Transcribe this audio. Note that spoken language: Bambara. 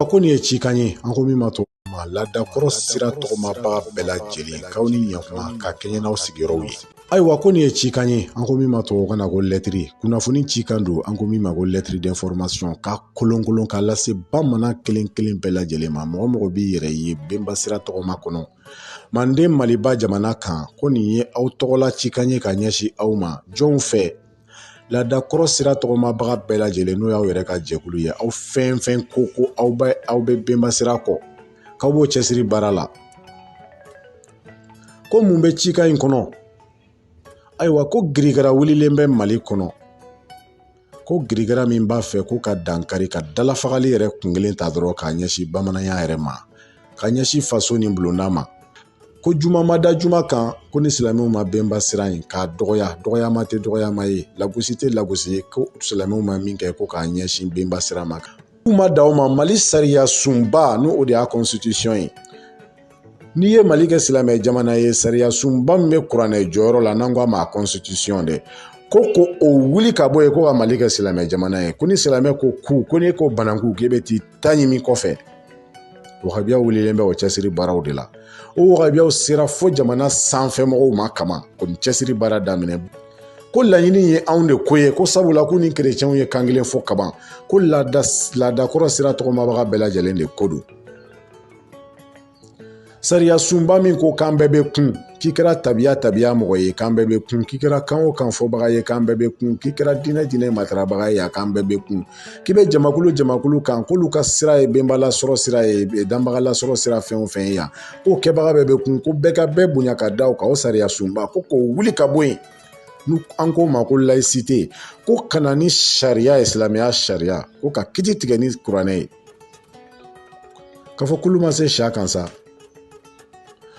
ko nin ye cikan ye an ko min ma to ma laadakɔrɔ sira tɔgɔmabaga bɛɛ lajɛlen k'aw ni ɲakuma ka kɛɲɛ n'aw sigiyɔrɔw ye ayiwa ko nin ye cikan ye an ko min ma tubabukan na ko lɛtiri kunnafoni cikan don an ko min ma ko lettre d'information ka kolonkolon ka lase bamanan kelen kelen bɛɛ lajɛlen ma mɔgɔ o mɔgɔ b'i yɛrɛ ye benba sira tɔgɔma kɔnɔ manden maliba jamana kan ko nin ye aw tɔgɔla cikan ye ka ɲɛsin aw ma jɔnw fɛ laada kɔrɔ sira tɔgɔmabaga bɛɛ lajɛlen n'o y'aw yɛrɛ ka jɛkulu ye aw fɛn o fɛn ko ko aw bɛ aw bɛ bɛnba sira kɔ k'aw b'o cɛsiri baara la ko mun bɛ cikan in kɔnɔ ayiwa ko girigara wulilen bɛ mali kɔnɔ ko girigara min b'a fɛ ko ka dankari ka dalafagali yɛrɛ kun kelen ta dɔrɔn k'a ɲɛsin bamananya yɛrɛ ma ka ɲɛsin faso ni bulonda ma ko juma ma da juma kan ko ni silamɛw ma bɛnba sira in k'a dɔgɔya dɔgɔyama tɛ dɔgɔyama ye lagosi tɛ lagosi ye ko silamɛw ma min kɛ ko k'a ɲɛsin bɛnba sira ma kan k'u ma dan o ma mali sariya sunba n'o o de y'a constitution ye n'i ye mali kɛ silamɛ jamana ye sariya sunba min bɛ kuranɛ jɔyɔrɔ la n'an ko a ma constitution dɛ ko ko o wuli ka bɔ yen ko ka mali kɛ silamɛ jamana ye ko ni silamɛ ko ku ko n'e ko bananku k'e bɛ t'i ta ɲimi kɔfɛ wahabiya wulilen bɛ o cɛsiri baaraw de la o wahabiyaw sera fo jamana sanfɛ mɔgɔw ma kama ko nin cɛsiri baara daminɛ ko laɲini ye anw de ko ye ko sabula k'u ni kerecɛnw ye kan kelen fɔ kaban ko laadakɔrɔ sira tɔgɔmabaga bɛɛ lajɛlen de ko don sariya sunba min ko k'an bɛɛ bɛ kun k'i kɛra tabiya tabiya mɔgɔ ye k'an bɛɛ bɛ kun k'i kɛra kan o kan fɔbaga ye k'an bɛɛ bɛ kun k'i kɛra diinɛ diinɛ matarabaga ye a k'an bɛɛ bɛ kun k'i bɛ jamakulu jamakulu kan k'olu ka sira ye benbalasɔrɔ sira ye danbagalasɔrɔ sira fɛn o fɛn ye yan k'o kɛbaga bɛɛ bɛ kun ko bɛɛ ka bɛɛ bonya ka da o kan o sariya sunba ko k'o wuli ka bɔ yen n'an k'o ma ko laïcité ko ka na ni sariya ye silamɛya sariya ko ka kiti tigɛ ni kuranɛ ye k'a fɔ kulu ma se sa kan sa